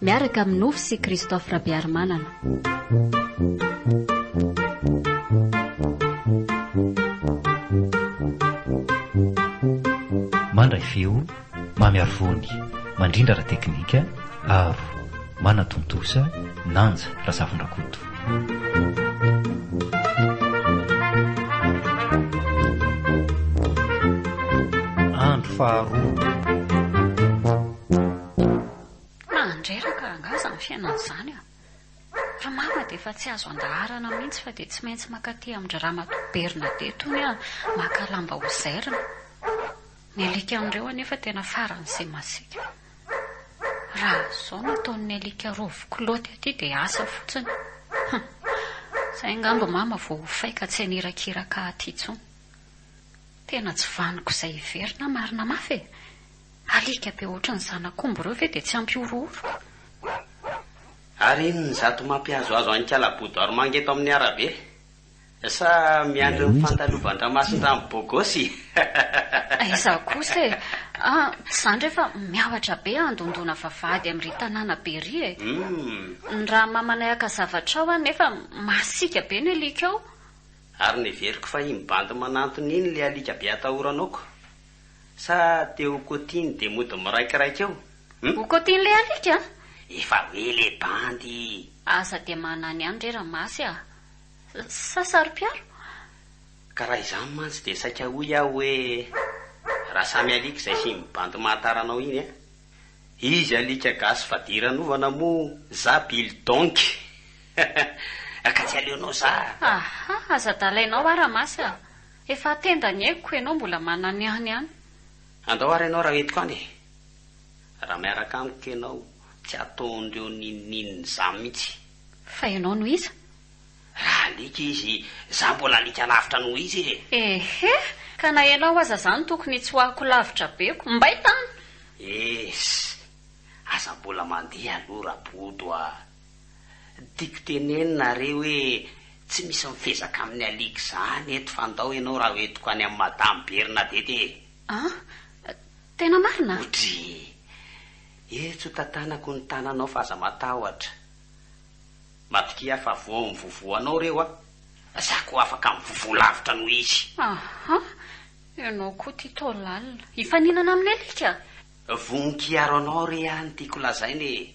Miaraka amin'ny nofy sy Christophe Rabearimanana. Mandray feo, mamy ary vony, mandrindra ara-teknika, aro, manatontosa, Nanja Razafindrakoto. Andro faharoa. Mandreraka rangah izany fiainana izany a! Ry mama dia efa tsy azo andaharana mihitsy fa dia tsy maintsy mankaty amin-dry ramatoa Bernadette hono aho maka lamba ozairina. Ny alikan'ireo anefa tena faran'izay masiaka. Raha izao no ataon'ny alika rovo kilaoty aty dia asa fotsiny. Hum! Izay angamba mama vao ho fay ka tsy hanirakiraka aty intsony. Tena tsy vanoko izay hiverina marina mafy e! Alika be ohatran'ny zanak'omby ireo ve dia tsy hampihorohoro? Ary inona izato mampihazohazo an'i Kala Boudoirmanga eto amin'ny arabe? Sa miandry ny fandalovan-dRamasindramy bôgôsy? Aiza kosa e! Ah, tsy izany re fa miavatra be handondona vavahady amin'iry tanàna be iry e! Ny rahamamanay haka zavatra ao an, nefa masiaka be ny alika ao. Ary neveriko fa iny bandy manantona iny ilay alika be atahoranao ko. Sa te ho kotiny de mody miraikiraika eo hum. Ho kotiny le alika a! Efa hoe le bandy. Aza de manany ihany re ramasy a! Sa saro-piaro? Ka raha izany mantsy dia saika hoy aho hoe raha samy alika izay sy iny bandy mahatara anao iny a! Izy alika gasy fadiranovana moa za bil donky he he he! Ka tsy aleonao za a! Aha! Aza dalainao a ramasy a! Efa tenda ny aiko, ianao mbola mananiany ihany. Andao ary ianao raha entiko any e! Raha miaraka amiko ianao, tsy ataondreo n'inon'inona izaho mihitsy. Fa ianao no iza? Raha alika izy, izaho mbola alika lavitra noho izy e! Ehe! Ka na ianao aza izany tokony hitsoahako lavitra be ko! Mbay tany! Ess! Aza mbola mandeha aloha rabodo a! Tiako tenenina are hoe tsy misy mifezaka amin'ny alika zany eto fa ndao enao raha hoentiko any amin'i madame Bernadette e! An! Tena marina? Odry! Etsy ho tantanako ny tananao fa aza matahotra. Matokia fa vao mivovo anao reo a! Za koa afaka mivovo lavitra noho izy. Aha! Enao koa tia tao lalina. Hifaninana amin'ny alika? Vonon-kiaro anao re a ny tiako lazaina e!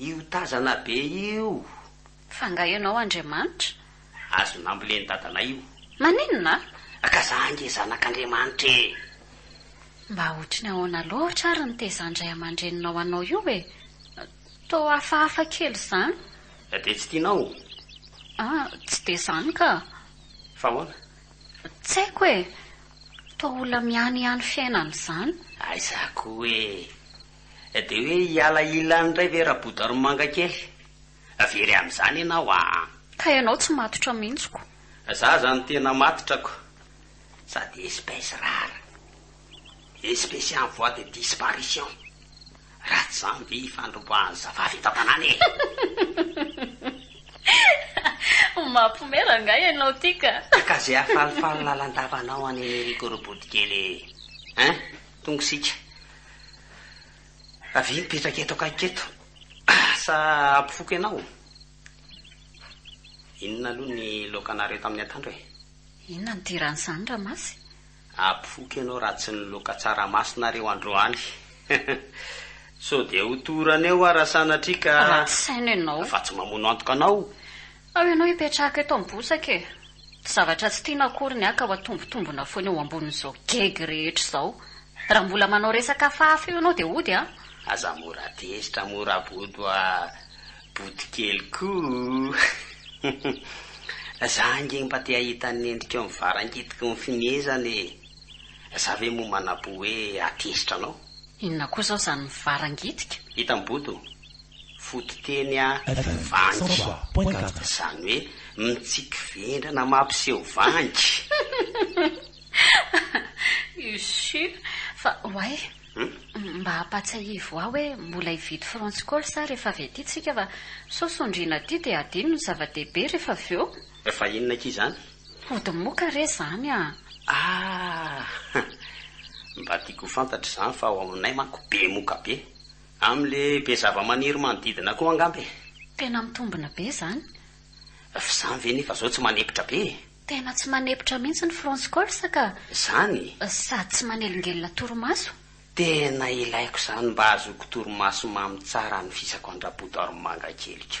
Io tazana be io. Fa nga ianao Andriamanitra? Azo nambolen'i dadanay io. Maninona? Ka za ange zanak'Andriamanitra e! Mba ohatrin'ny ahoana loatra ary ny tezan-dray aman-dreninao anao io e? Toa hafahafa kely izany. Dia tsy tianao? Ah, tsy dia izany ka. Fa ahoana? Tsy haiko e! Toa olona miany ihany fiainana izany. Aiza koa e! Dia hoe hiala ilany indray ve Rabodorimanga kely? Very amin'izany ianao an! Ka ianao tsy matotra mihitsy ko! Za zany tena matotra ko! Sady espèce rare, espèce en voie de disparition, raha tsy zany ve ifandromboahan'ny zavavy eto an-tanàna e! Mampihomehy rangahy ianao ity ka! Ka ze afalifaly lalan-davanao any Enerico Robodikely e! Hein? Tonga isika. Avia mipetraka eto akaiky eto. Sa hampifoka ianao? Inona aloha ny loakanareo tamin'ny antoandro e? Inona no diran'izany Ramasy? Hampifoka ianao raha tsy ny loaka tsaramasinareo androany. Sao dia ho torana eo aho raha sanatria ka. Raha tsy saino ianao. Fa tsy mamono antoka anao. Ao ianao hipetraka eto amin'ny bosaka e! Tsy zavatra tsy tiana akory ny ahy ka ho atombotombona foana eo ambonin'izao gegy rehetra izao. Raha mbola manao resaka hafahafa eo ianao dia hody an! Aza mora tezitra mora bodo a Bodokeliko o! Za ange mba te hahita ny endrikao mivarangitiky ny fimehezana e! Za ve moa manam-po hoe hatezitra anao? Inona koa izao izany mivarangitika? Hitan'i Bodo fototeny a vangy, izany hoe mitsiky vendrana mampiseho vangy. Usu, fa oay, mba ampatsiahivo ahy hoe mbola hividy France Call sa rehefa avy aty tsika fa sao sondriana aty dia adino ny zava-dehibe rehefa avy eo. Fa inona akia izany? Hody moka re izany a! Ah! Mba tiako ho fantatra izany fa ao aminay manko be moka be. Amle be zavamaniry manodidina koa angamba e. Tena mitombina be zany. Fa zany ve nefa zao tsy manepotra be e. Tena tsy manepotra mihitsy ny France Corse ka. Zany e. Sady tsy manelingelina torimaso. Tena ilaiko zany mba azoko torimaso mamy tsara anofisako an-dRabodo Armanga keliko.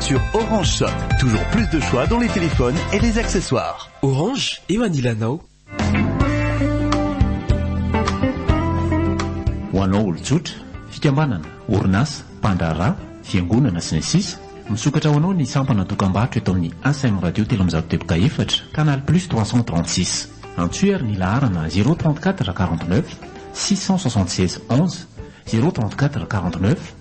Sur Orange Shop, toujours plus de choix dans les téléphones et les accessoires. Orange, eo anilanao. Ho anao olon-tsotra, fikambanana, orinasa, mpandraharaha, fiangonana, sy ny sisa Misokatra ho anao ny sampana dokambarotra eto amin'ny ACM Radio telo amby zato teboka efatra, Canal Plus trois cent trente six. Antsoy ary ny laharana zéro trente quatre quarante neuf six cent soixante seize onze, zéro trente quatre quarante neuf.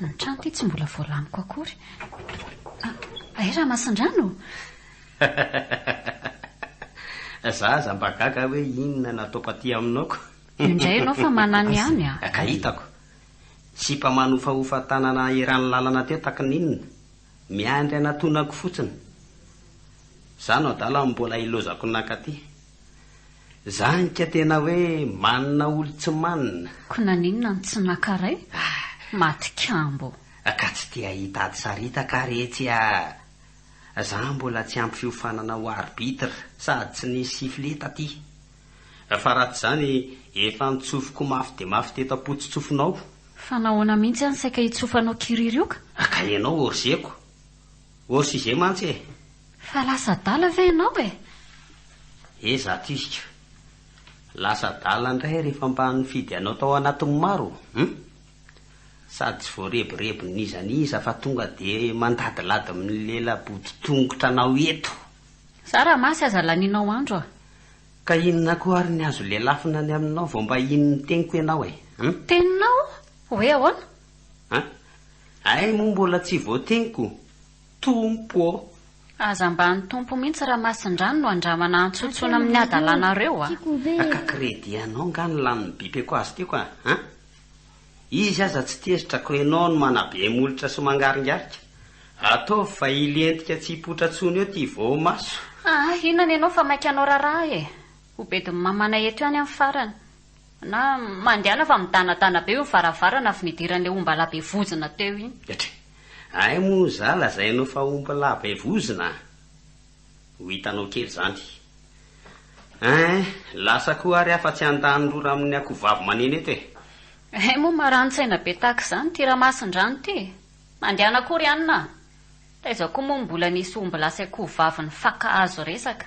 Ny trano ity tsy mbola voalaniko akory. Hay Ramasindrano? Za aza mba gaga hoe inona nataoko aty aminao ko. Io indray ianao fa manana ihany a. Ka hitako. Sipa manofahofa tanana eran'ny lalana teo taky ny inona. Miandry anatonako fotsiny. Za no adala mbola ilozako naka aty. Zany ka tena hoe manina olo tsy manina. Ko naninona no tsy naka ray? Maty kambo. Ka tsy te hahita ady saritaka ary etsy a! Za mbola tsy ampy fiofanana ho arbitre sady tsy nisy sifflet taty. Fa raha tsy zany efa nitsofoko mafy dia mafy teto am-potsotsofonao. Fa nahoana mihitsy any saika hitsofanao kiriry io ka? Ka ianao orzeko. Ours izay mantsy e! Fa lasa adala ve ianao e? He za tiziko. Lasa adala indray rehefa mba nifidy anao tao anatin'ny maro hum! Sady tsy voarebireby n'iza n'iza fa tonga dia mandadilady milela boditongotra anao eto. Za raha masy aza lanianao andro a! Ka inona koa ary ny azo lelafina ny aminao vao mba hino ny teniko ianao e? Hum! Teninao? Hoe ahoana? An? Ay moa mbola tsy voateniko Tompo ô! Aza mba an'ny Tompo mihitsy raha masindrano no andramana antsontsoina amin'ny hadalanareo a! Ka credit anao nga ny lanin'ny bipeko azy teo ka an? Izy aza tsy tezitra ko enao no manabe molotra sy mangaringarika. Ataovy fa hilentika tsy hipoitra tsony eo ty voamaso. Aa inona ny anao fa maika anao raraha e! Ho bedin'ny mamanay eto ihany amin'ny farany. Na mandehana fa midanadana be io ny varavarana avy nidiran'ilay ombalahy be vozona teo iny. Dra, ay moa za lazainao fa ombalahy be vozona a! ho hitanao kely zany. Ein, lasa koa ary aho fa tsy handanin-drora amin'ny akohovavy maneno eto e! Ay moa marani-tsaina be tahaka izany ity Ramasindrano ity e! Mandehana koa ry anona a! Taiza koa moa no mbola nisy ombilahy sy akohovavy nifaka hazo resaka.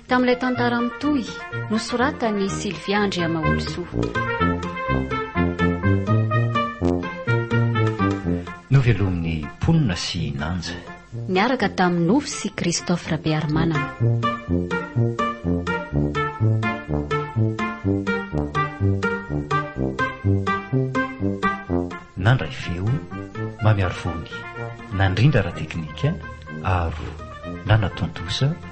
Tamin'ilay tantara mitohy, nosoratan'i Sylvia Andriamaolosoa. Novelomin'ny mponina sy Nanja. Niaraka tamin'i Nofy sy Christophe Rabearimanana. Nandray feo, Mamy Arivony. Nandrindra ara-teknika, Aro. Nanatontosa,